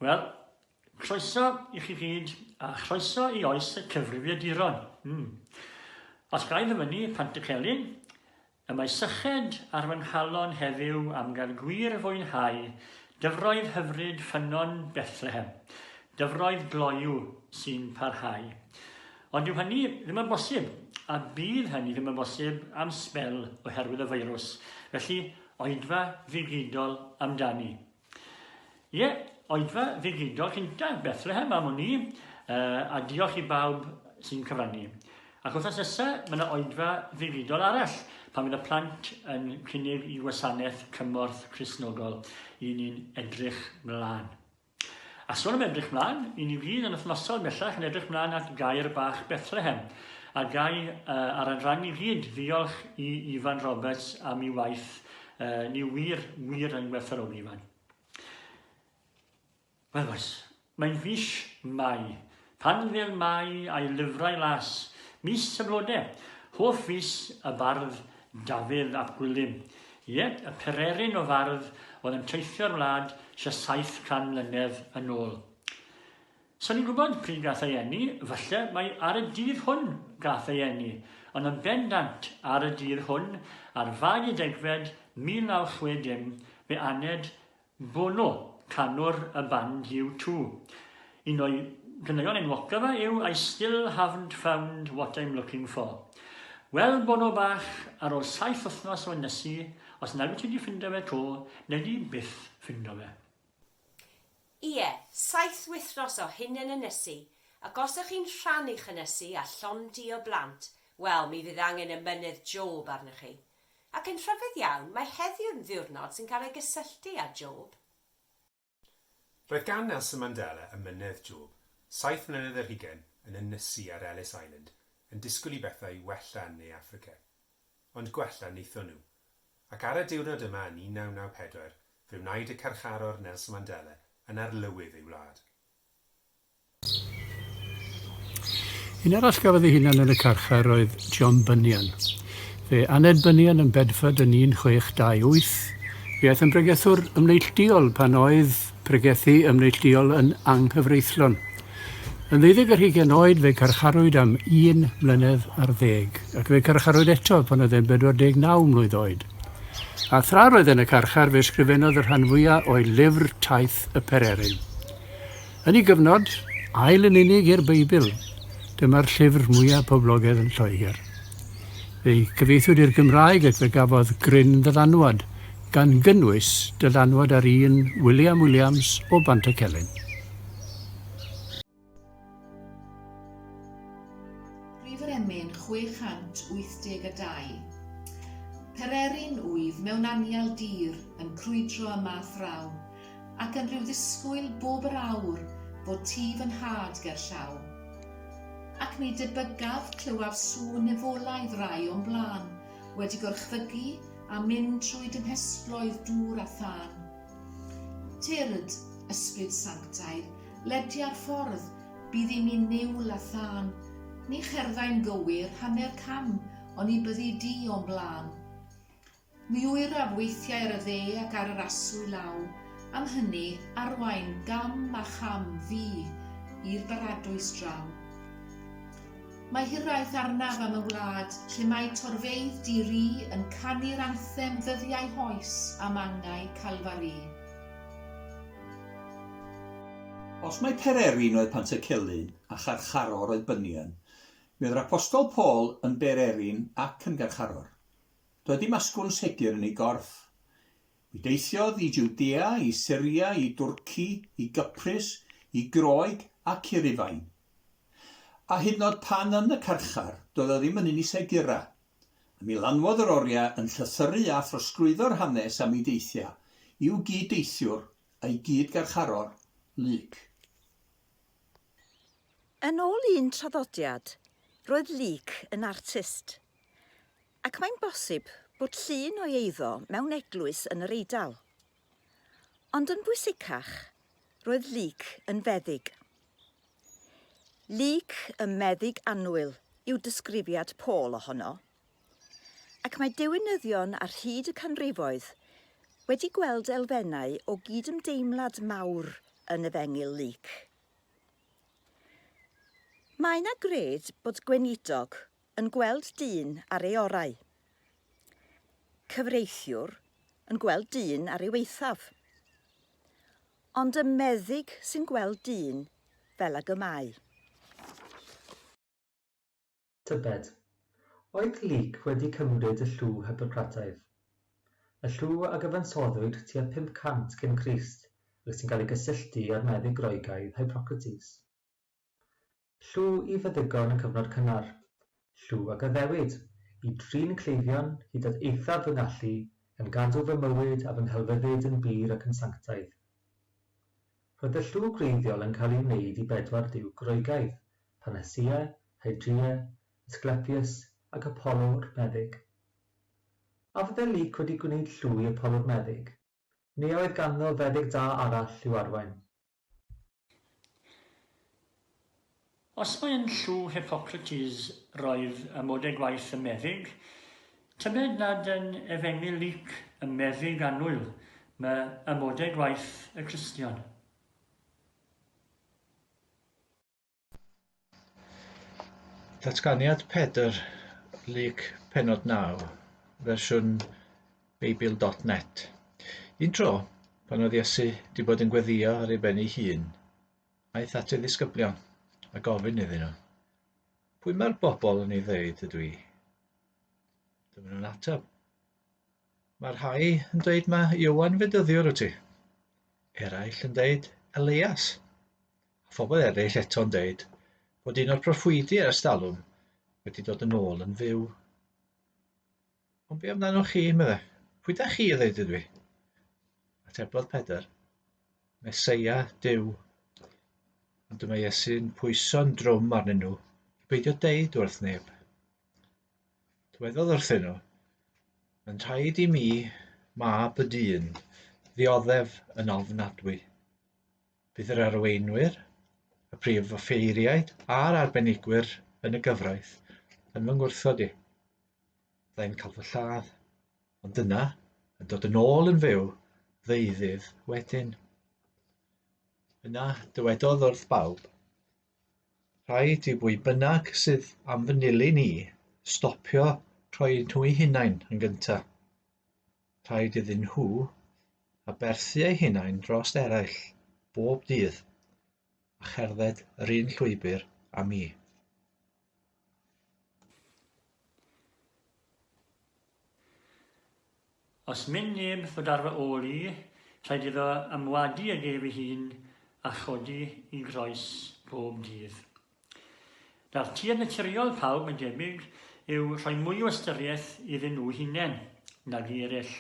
Wel, croeso i chi gyd a chroeso i oes y cyfrifiaduron. Mm. Os gael ddyfynu Pant y Celyn, y mae syched ar fy nghalon heddiw am gael gwir fwynhau dyfroedd hyfryd ffynnon Bethlehem, dyfroedd gloyw sy'n parhau. Ond dyw hynny ddim yn bosib, a bydd hynny ddim yn bosib am sbel oherwydd y feirws, felly oedfa ddigidol amdani. Ie, oedfa ddigidol cyntaf Bethlehem am wn i, uh, a diolch i bawb sy'n cyfrannu. Ac wrth asesa, mae yna oedfa ddigidol arall pan fydd y plant yn cynnig i wasanaeth cymorth Crisnogol i ni'n edrych mlaen. A sôn am edrych mlaen, i ni gyd yn wythnosol bellach yn edrych mlaen at gair bach Bethlehem, a gai uh, ar adran i gyd ddiolch i Ifan Roberts am ei waith, uh, ni wir, wir yn gwerthfawrogi Ifan. Wel oes, mae'n fis Mai, Pan fel mae a'i lyfrau las, mis y blode, hoff fis y bardd Dafydd ap Gwilym. Ie, y pererin o fardd oedd yn teithio'r wlad tua 700 mlynedd yn ôl. Sa'n i'n gwybod pryd gath ei eni, falle mai ar y dydd hwn gath ei eni, ond yn bendant ar y dydd hwn, ar fag y degfed 1960, fe aned Bono, canwr y band U Two. Un o'i ganeuon enwocaf yw I Still Haven't Found What I'm Looking For. Wel, Bono bach, ar ôl saith wythnos o ynysu, os nag wyt ti 'di ffindo fe 'to, wnei di byth ffindo fe. Ie, saith wythnos o hunan ynysu, ac os ych chi'n rhannu'ch ynysu â llond-du o blant, wel, mi fydd angen ymennydd Job arnoch chi. Ac yn rhyfedd iawn, mae heddiw yn ddiwrnod sy'n cael ei gysylltu â Job. Roedd gan Nelson Mandela emynedd Job, saith mlynedd ar hugain, yn ynysu ar Ellis Island, yn disgwyl i bethau i wella yn Ne Affrica. Ond gwella wnaethon nhw. Ac ar y diwrnod yma yn 1994, fe wnaed y carcharor Nelson Mandela yn arlywydd ei wlad. Un arall gafodd ei hunan yn y carchar oedd John Bunyan. Fe aned Bunyan yn Bedford yn 1628. Fe aeth yn bregethwr ymneillduol pan oedd pregethu ymneillduol yn anghyfreithlon. Yn ddeuddeg ar hugain oed fe garcharwyd am un mlynedd ar ddeg, ac fe garcharwyd eto pan oedd e'n 49 mlwydd oed. A thra roedd e'n y carchar fe sgrifennodd y rhan fwya o'i lyfr Taith y Pereryn. Yn ei gyfnod, ail yn unig i'r Beibl, dyma'r llyfr mwyaf poblogaidd yn Lloegr. Fe'i cyfieithwyd i'r Gymraeg ac fe gafodd gryn ddylanwad, gan gynnwys dylanwad ar un William Williams o Bantycelyn. Prif yr emyn 682. Pererin wyf mewn anial dir yn crwydro y math rawn, Ac yn rhyw ddisgwyl bob yr awr bod ti fy nhad ger llaw. Ac mi debygaf clywaf sŵn nefolaidd rai o'm blân wedi gorchfygu a mynd trwy dy nghesploedd dŵr a thân. Tyrd, Ysbryd Sanctaidd, ledia'r ffordd, bydd i mi niwl a thân. Ni cherddai'n gywir hanner cam oni byddi di o'm blân. Mi oeraf weithiau ar y dde ac ar yr aswy law, am hynny, arwain gam a cham fi i'r baradwys draw. Mae hiraeth arnaf am y wlad lle mae torfeydd di-ri yn canu'r anthem ddyddiau hoes a mangau Calfari. Os mai Pererin oedd Pantycelyn a Charcharor oedd Bunyan, mi oedd yr Apostol Paul yn Bererin ac yn Garcharor. Doedd dim asgwrn segur yn ei gorff. Mi deithiodd i Jwdea, i Syria, i Dwrci, i Gyprus, i Groeg ac i Rufain. A hyd yn oed pan yn y carchar, doedd o ddim yn un i segura. A mi lanwodd yr oriau yn llythyru a throsglwyddo'r hanes am ei deithiau i'w gyd-deithiwr a'i gyd-garcharor, Luc. Yn ôl un traddodiad, roedd Luc yn artist. Ac mae'n bosib bod llun o'i eiddo mewn eglwys yn yr Eidal. Ond yn bwysicach, roedd Luc yn feddyg. Luc y meddyg annwyl yw disgrifiad Paul ohono. Ac mae diwinyddion ar hyd y canrifoedd wedi gweld elfennau o gydymdeimlad mawr yn efengyl Luc. Mae yna gred bod gweinidog yn gweld dyn ar ei orau. Cyfreithiwr yn gweld dyn ar ei eithaf. Ond y meddyg sy'n gweld dyn fel ag y mae. Tybed, oedd Luc wedi cymryd y llw Hippocrataidd, y llw a gyfansoddwyd tua 500 cyn Crist ac sy'n cael ei gysylltu â'r meddyg Groegaidd Hippocrates? Llu i feddygon y cyfnod cynnar. Llu a gaddewid, i drin cleifion hyd at eithaf fy ngallu, gan gadw fy mywyd a fy nghelfyddyd yn bur ac yn sanctaidd. Roedd y llu gwreiddiol yn cael ei wneud i bedwar duw Groegaidd, Panacea, Hydrea, Asclepius, ac Apollo'r Meddyg. A fydde Luc wedi gwneud llu i Apollo'r Meddyg, neu a oedd ganddo feddyg da arall i'w arwain? Os mae yn llw Hippocrates roedd y modau gwaith y meddyg, tybed nad yn efengyl Luc y meddyg annwyl ma y modau gwaith y Cristion? Datganiad Pedr, Luc penod 9, fersiwn Beibl.net. Un tro, pan oedd Iesu wedi bod yn gweddio ar ei ben ei hun, aeth at ei ddisgyblion a gofyn iddyn nhw, Pwy mae'r bobl yn ei ddeud ydw i? Dyma nhw'n ateb. Mae rhai yn dweud mae Iwan Fedyddiwr wyt ti. Eraill yn dweud Elias. Phobl eraill eto'n deud bod un o'r proffwydi ers talwm wedi dod yn ôl yn fyw. Ond be amdanoch chi, meddai. Pwy da chi, ddeud ydw i? Atebodd Pedr. Meseia, Dyw. Ond dyma Iesu'n pwyso'n drwm arnyn nhw i beidio deud wrth neb. Dywedodd wrthyn nhw, Mae'n rhaid i mi, mab y dyn, ddioddef yn ofnadwy. Bydd yr arweinwyr, y prif offeiriaid a'r arbenigwyr yn y gyfraith yn fy ngwrthod i. Fydda i'n cael fy lladd, ond dyna yn dod yn ôl yn fyw ddeuddydd wedyn. Yna dywedodd wrth bawb, Rhaid i bwy bynnag sydd am fy nilyn i stopio rhoi nhw'u hunain yn gyntaf. Rhaid iddyn nhw aberthu eu hunain dros eraill bob dydd a cherdded yr un llwybr â mi. Os myn neb ddod ar fy ôl i, rhaid iddo ymwadu ag ef ei hun a chodi i groes bob dydd. Nawr, tir naturiol pawb, mae'n debyg, yw rhoi mwy o ystyriaeth iddyn nhw hunain nag i eraill.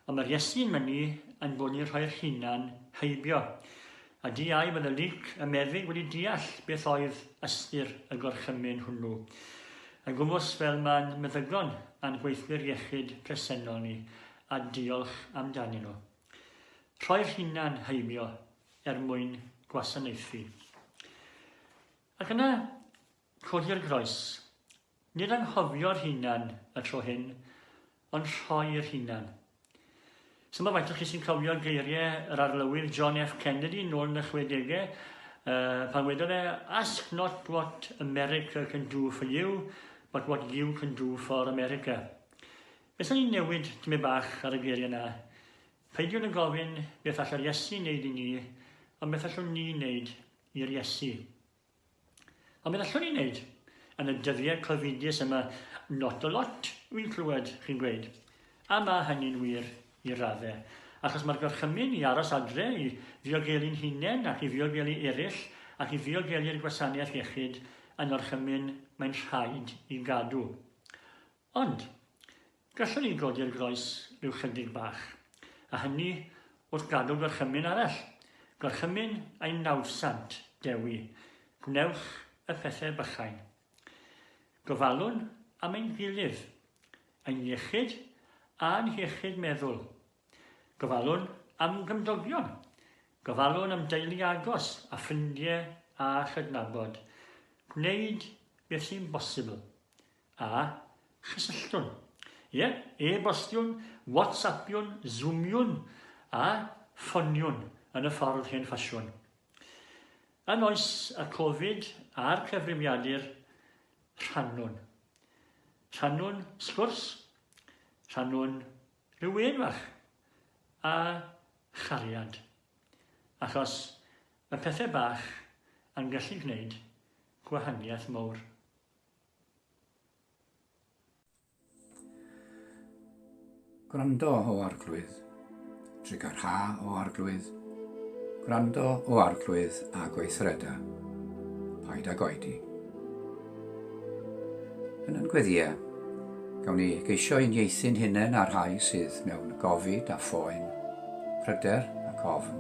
Ond mae'r Iesu yn mynnu ein bod ni'n rhoi'r hunan heibio. A di ai fod y Luc y meddyg wedi deall beth oedd ystyr y gorchymyn hwnnw? Yn gwmws fel mae'n meddygon a'n gweithwyr iechyd presennol ni, a diolch amdanyn nhw. Rhoi'r hunan heibio er mwyn gwasanaethu. Ac yna, codi'r groes. Nid anghofio'r hunan y tro hyn, ond rhoi'r hunan. Sut mae faint o chi sy'n cofio geiriau yr arlywydd John F Kennedy nôl yn y 60au, uh, pan wedodd fe, ask not what America can do for you, but what you can do for America. Wnaethon ni newid tymed bach ar y geiriau 'na. Peidiwn â gofyn beth allai'r Iesu wneud i ni, ond beth allwn ni wneud i'r Iesu. Ond beth allwn ni wneud? Yn y dyddiau covidus yma, not a lot, wy'n clywed chi'n gweud. A mae hynny'n wir i raddau, achos mae'r gorchymyn i aros adre, i ddiogelu'n hunain ac i ddiogelu eraill ac i ddiogelu'r gwasanaeth iechyd yn orchymyn mae'n rhaid i gadw. Ond, gallwn ni godi'r groes ryw chydig bach, a hynny wrth gadw gorchymyn arall, gorchymyn ein nawddsant, Dewi, gwnewch y pethau bychain. Gofalwn am ein gilydd, ein iechyd a'n hiechyd meddwl. Gofalwn am gymdogion, gofalwn am deulu agos a ffrindiau a chydnabod. Gwneud beth sy'n bosibl. A chysylltwn. Ie, e-bostiwn, WhatsAppiwn, Zoomiwn a ffoniwn yn y ffordd hen ffasiwn. Yn oes y Covid a'r cyfrimiadur, rhannwn. Rhannwn sgwrs, rhannwn rhyw un fach a chariad. Achos mae pethau bach yn gallu gwneud gwahaniaeth mawr. Gwrando, O Arglwydd, trugarha, O Arglwydd, gwrando, O Arglwydd, a gweithreda, paid ag oedi. Yn yn gweddiau, gawn ni geisio uniaethu'n hunain â'r rhai sydd mewn gofid a phoen, pryder ac ofn,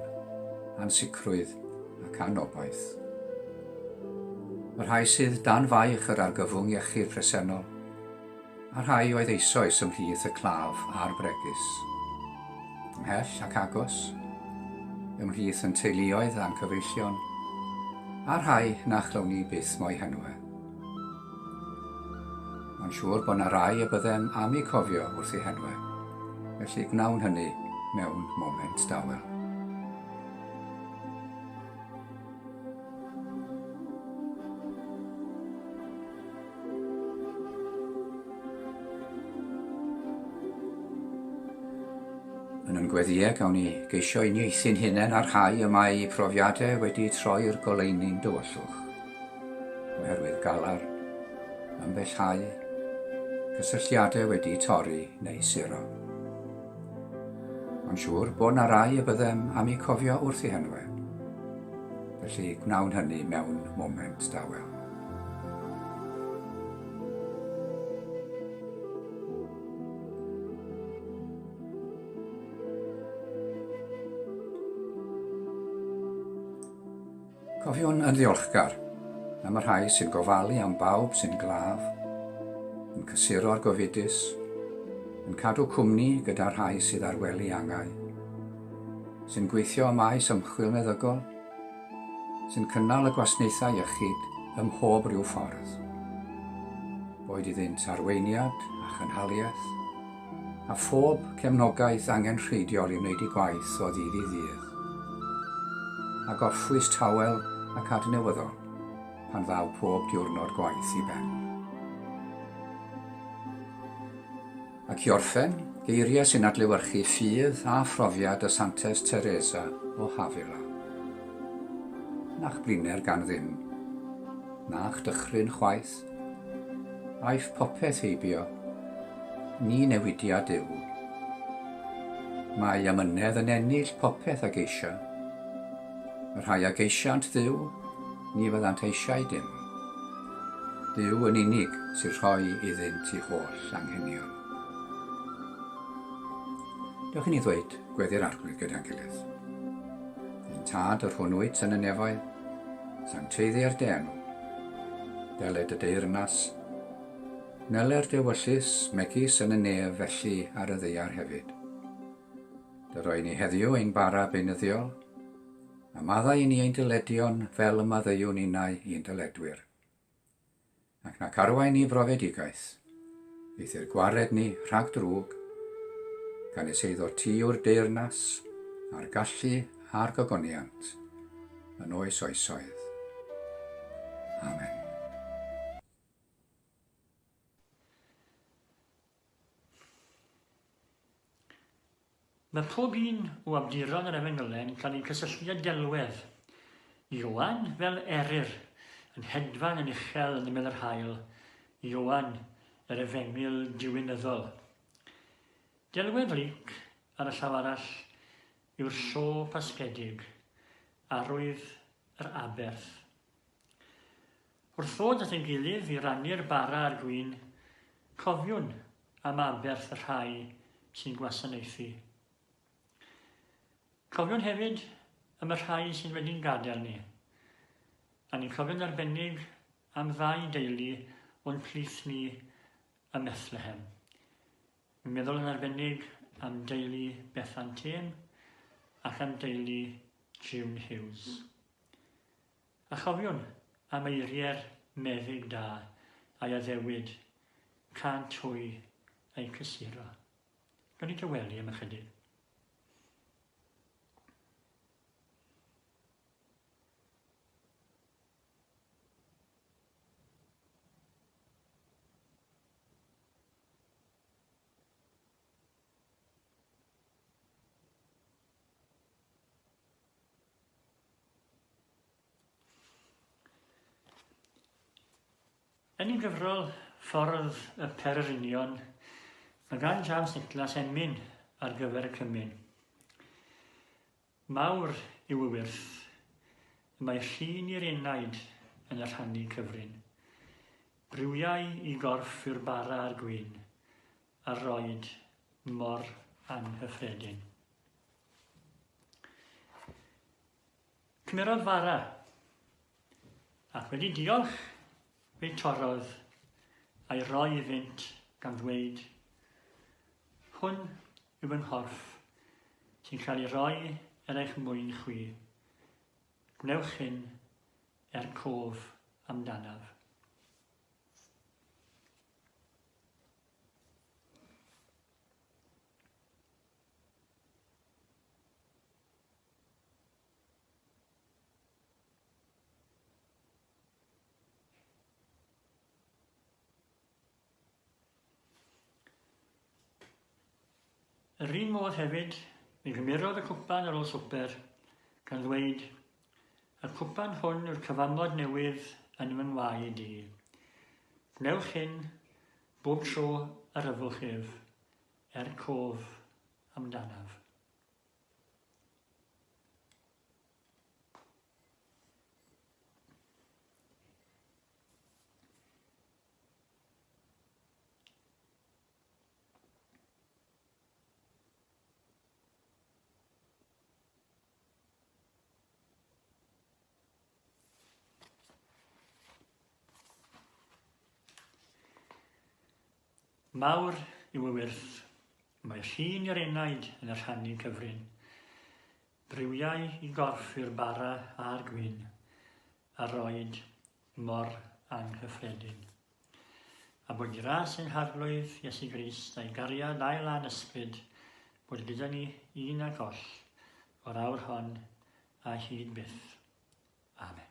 ansicrwydd ac anobaith. y rhai sydd dan faich yr argyfwng iechyd presennol, a'r rhai oedd eisoes ymhlith y claf a'r bregus. Ymhell ac agos, ymhlith yn teuluoedd a'n cyfeillion, a'r rhai na chlown ni byth mo'i henwe. Mae'n siŵr bod yna rai y byddem am eu cofio wrth eu henwe, felly gwnawn hynny mewn moment dawel. Yn ein gweddiau gawn ni geisio uniaethu'n hunain ar rhai y mae eu profiadau wedi troi'r goleuni'n dywyllwch. Oherwydd galar, ambellhau, cysylltiadau wedi torri neu suro. Mae'n siŵr bod na rai y byddem am eu cofio wrth eu henwe. Felly gwnawn hynny mewn moment dawel. Cofiwn yn ddiolchgar am y rhai sy'n gofalu am bawb sy'n glaf, yn cysuro'r gofidus, yn cadw cwmni gyda'r rhai sydd ar wely angau, sy'n gweithio ym maes ymchwil meddygol, sy'n cynnal y gwasnaethau iechyd ym mhob rhyw ffordd, boed iddynt arweiniad a chynhaliaeth, a phob cefnogaeth angenrheidiol i wneud ei gwaith o ddydd i ddydd. A gorffwys tawel ac adnewyddol pan ddaw pob diwrnod gwaith i ben. Ac i orffen, geiriau sy'n adlewyrchu ffydd a phrofiad y Santes Teresa o Havila. Na'ch bliner gan ddim, na'ch dychryn chwaith, Aiff popeth heibio, ni newidiad yw. Mae amynedd yn ennill popeth a geisia. Y rhai a geisiant Dduw, ni fyddant eisiau dim. Duw yn unig sy'n rhoi iddynt i holl anghenion. Dewch i ni ddweud gweddi'r arglwydd gyda'n gilydd. Yn tad yr hwn wyt yn y nefoedd, sancteiddi ar dy enw, Dyled y deyrnas. Meler dewyllys, megis yn y nef felly ar y ddaear hefyd. Dy roi ni heddiw ein bara beunyddiol, a maddau i ni ein dyledion fel y maddeuwn innau i'n dyledwyr. Ac na carwai ni frofedigaeth, Eithr gwared ni rhag drwg, gan nes eiddo ti o'r deyrnas a'r gallu a'r gogoniant yn oes oesoedd. Amen. Mae pob un o awduron yr Efengylen gan eu cysylltu â delwedd. Ioan, fel Eryr, yn hedfan yn uchel yn ymyl yr haul, Ioan, yr efengyl diwinyddol. Delwedd Luc, ar y llaw arall, yw'r llo pasgedig, arwydd yr aberth. Wrth ddod at ein gilydd i rannu'r bara a'r gwin, cofiwn am aberth y rhai sy'n gwasanaethu. Cofiwn hefyd am y rhai sydd wedi'n gadael ni. A ni'n cofio'n arbennig am ddau deulu o'n plith ni ym Methlehem. Mi'n meddwl yn arbennig am deulu Bethan Têm ac am deulu June Hughes. A chofiwn am eiriau'r meddyg da a'i addewid, cânt hwy eu cysuro. Gawn ni dawelu am ychydig? Yn ei gyfrol Ffordd y Pererinion, mae gan James Nicholas emyn ar gyfer y cymun. Mawr yw y wyrth y mae llun i'r enaid yn y rhannu cyfrin. Briwiau i gorff yw'r bara a'r gwin, a roed mor anghyffredin. Cymerodd fara, ac wedi diolch, fe'i torrodd a'i roi i fynt gan ddweud, Hwn yw fy nghorff, sy'n cael ei roi er eich mwyn chwi. Gwnewch hyn er cof amdanaf. Yr un modd hefyd, mi gymerodd y cwpan ar ôl swper, gan ddweud, Y cwpan hwn yw'r cyfamod newydd yn fy ngwaed i. Gwnewch hyn bob tro yr yfwch ef, er cof amdanaf. Mawr yw y wyrth, mae llun yr enaid yn y rhannu cyfrin. Briwiau i gorff i'r bara a'r gwyn. a roed mor anghyffredin. A bod gras ein harglwydd Iesu Grist a'i gariad ail a'n ysbryd bod gyda ni un ac oll o'r awr hon a hyd byth. Amen.